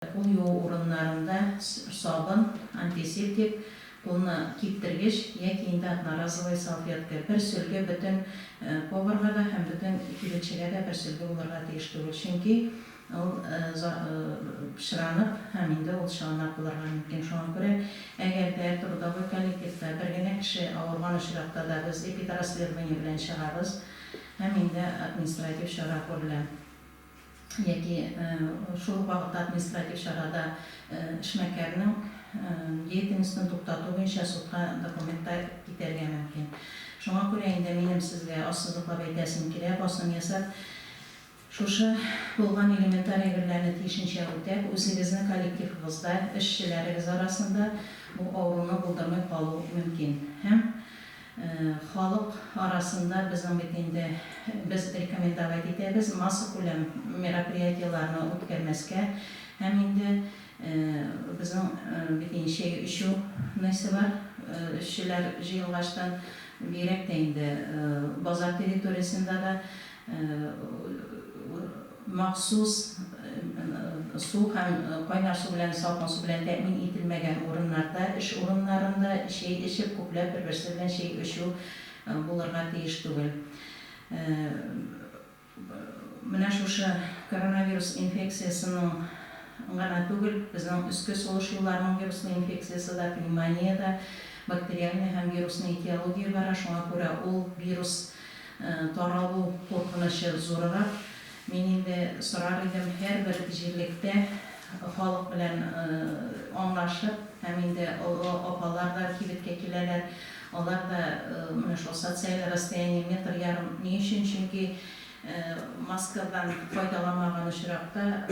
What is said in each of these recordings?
Кул юу урыннарында сабын, антисептик, кулны киптергеч яки инде одноразовый салфетка, бер сөлге бөтен поварга да һәм бөтен кибетчегә дә бер сөлге булырга тиеш түгел, чөнки ул пычранып һәм инде ул чыланак булырга мөмкин. Шуңа күрә, әгәр дә трудовой коллективта бер генә кеше авырган очракта да без эпидрасследование белән чыгабыз һәм инде административ чара күрелә. яки шул ук вакытта административ чарада эшмәкәрнең деятельностен туктату буенча судка документ та китәргә мөмкин. Шуңа күрә инде минем сезгә ассызыклап әйтәсем килә, басым ясап, шушы булган элементарь әйберләрне тиешенчә үтәп, үзегезнең коллективыгызда, эшчеләрегез арасында бу авыруны булдырмый калу мөмкин һәм, Халык арасында безнең бит инде, без рекомендовать итәбез массакүләм мероприятиеләрне үткәрмәскә һәм инде безнең бит инде чәй эчү нысы бар, эшчеләр җыелгачтан бигрәк тә инде базар территориясендә дә Махсус су һәм кайнар су белән, салкын су белән тәэмин ителмәгән урыннарда, эш урыннарында чәй эчеп, күпләп бер-берсе белән чәй эчү булырга тиеш түгел. Менә шушы коронавирус инфекциясенең гына түгел, безнең өске сулыш юлларының вируслы инфекциясе дә, пневмония дә бактериальный һәм вирусный этиология бара, шуңа күрә ул вирус, Таралу куркынычы зурырак. Мин инде сорар идем, һәрбер җирлектә халык белән аңлашып, һәм инде олы апалар да кибеткә киләләр, алар да менә шул социаль расстояние метр ярым, ни өчен, чөнки маскадан файдаламаган очракта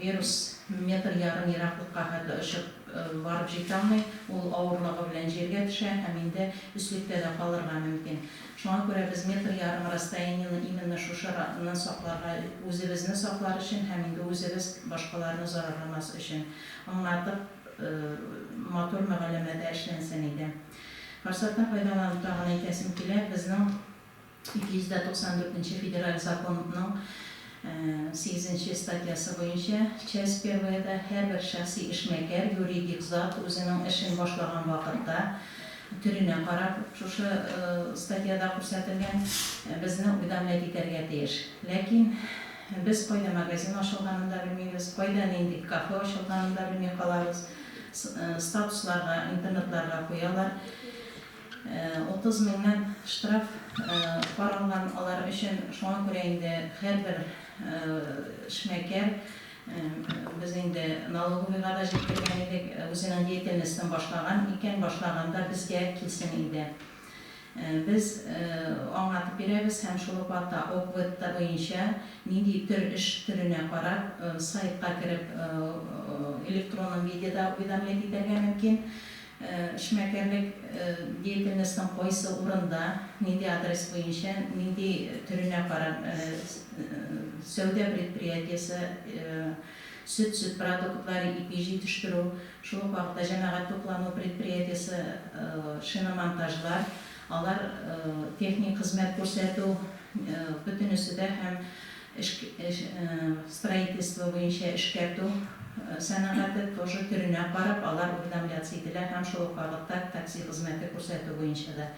вирус метр ярым ераклыкка хәтле очып барып җитә алмый, ул авырлыгы белән җиргә төшә һәм инде өслектә дә калырга мөмкин. Шуңа күрә без метр ярым расстояниене именно шушы раннан сакларга, үзебезне саклар өчен һәм инде үзебез башкаларны зарарламас өчен. Аңлатып, матур мөгаләмәдә эшләнсен иде. Форсаттан файдаланып тагын әйтәсем килә, безнең 294 нче Федераль законның Сигезенче статьясы буенча, часть перваяда һәрбер шәхси эшмәкәр, юридик зат, үзенең эшен башлаган вакытта, төренә карап, шушы статьяда күрсәтелгән, безне уведомлять итәргә тиеш. Ләкин без кайда магазин ачылганын да белмибез, кайда нинди кафе ачылганын да белми калабыз. Статусларга, интернетларга куялар. Утыз меңнән штраф каралган алар өчен, шуңа күрә инде һәрбер эшмәкәр, без инде налоговыйга да җиткергән идек, үзенең деятельностен башлаган икән, башлаганда безгә килсен инде. Без аңлатып бирәбез һәм шул ук вакытта ОГВЭТта буенча нинди төр эш төренә карап сайтка кереп электронном видеда уведомлять итәргә мөмкин. Эшмәкәрлек деятельностең кайсы урында, нинди адрес буенча, нинди төренә карап, сәүдә предприятиесе, сөт, сөт продуктлары, ипи җитештерү, шул ук вакытта җәмәгать туклану предприятиесе, шиномонтажлар, алар техник хезмәт күрсәтү, бөтенесе дә һәм. строительство буенча эшкәртү сәнәгате тоже төренә карап, алар уведомляться ителә һәм шул ук вакытта такси хезмәте күрсәтү буенча да.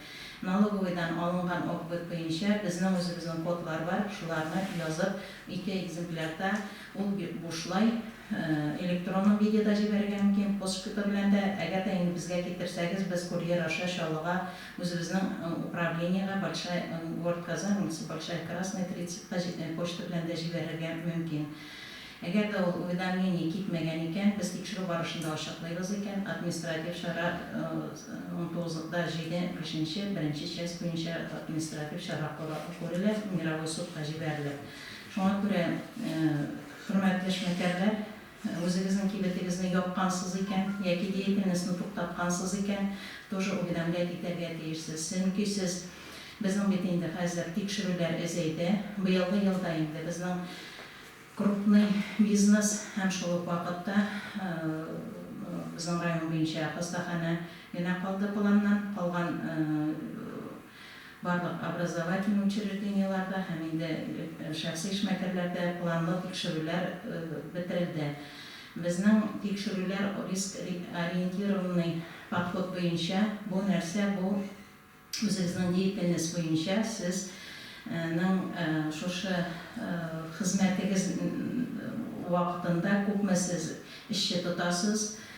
Налоговыйдан алынган опбыт буенча безнең үзебезнең кодлар бар, шуларны язып, ике экземплярда ул бушлай электронном видеда җибәрергә мөмкин, почта белән дә, әгәр дә инде безгә китерсәгез, без курьер аша Чаллыга Үзебезнең управлениегә большая, город Казань улица большая красная 30 ка почта белән дә җибәрергә мөмкин. Әгәр дә ул уведомление китмәгән икән, без тикшерү барышында ачыклыйбыз икән, административ чара 19 да 7 кешенче беренче часть буенча административ чара күрелә, мировой судка җибәрелә. Шуңа күрә, хөрмәтле эшмәкәрләр, Үзегезнең кибетегезне япкансыз икән, яки деятельностьны туктаткансыз икән, тоже уведомлять итәргә тиешсез. Чөнки сез, безнең бит инде хәзер тикшерүләр әзәйде. Быелгы елда инде безнең крупный бизнес һәм шул ук вакытта безнең район буенча хастаханә генә калды планнан калган. Барлык образовательный учреждениеларда һәм инде шәхси эшмәкәрләрдә планлы тикшерүләр бетерелде. Безнең тикшерүләр риск-ориентированный подход буенча, бу нәрсә, бу үзегезнең деятельность буенча сез нең шушы хезмәтегез вакытында күпме сез эшче тотасыз,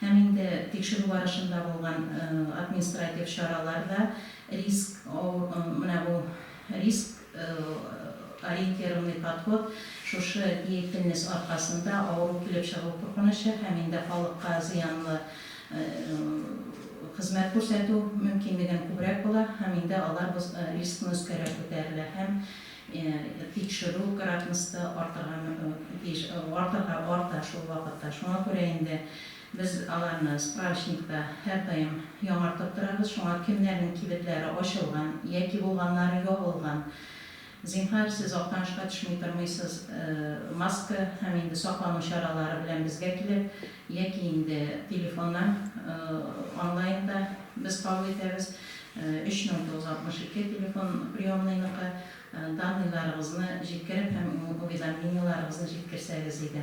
Һәм инде тикшерү барышында булган административ чаралар да риск менә бу риск ориентированный подход шушы деятельность аркасында авыру килеп чыгу куркынычы һәм инде халыкка зыянлы хезмәт күрсәтү мөмкинлеген күбрәк була һәм инде алар рискны өскәрәк күтәрелә һәм Тикшерү кыратмсты артырга тиеш, артырга бар да шул вакытта. Шуңа күрә инде без аларны справочникта һәрдаим яңартып торабыз. Шуңа кемнәрнең кибетләре ачылган яки булганнары ябылган, зинһар, сез Актанышка төшми тормыйсыз, маска һәм инде саклану чаралары белән безгә килеп, Яки инде телефоннан, онлайн да без кабул итәбез. 3962 телефон приемныйныкы. Данныйларыгызны җиткереп һәм уведомлениеларыгызны җиткерсәгез иде.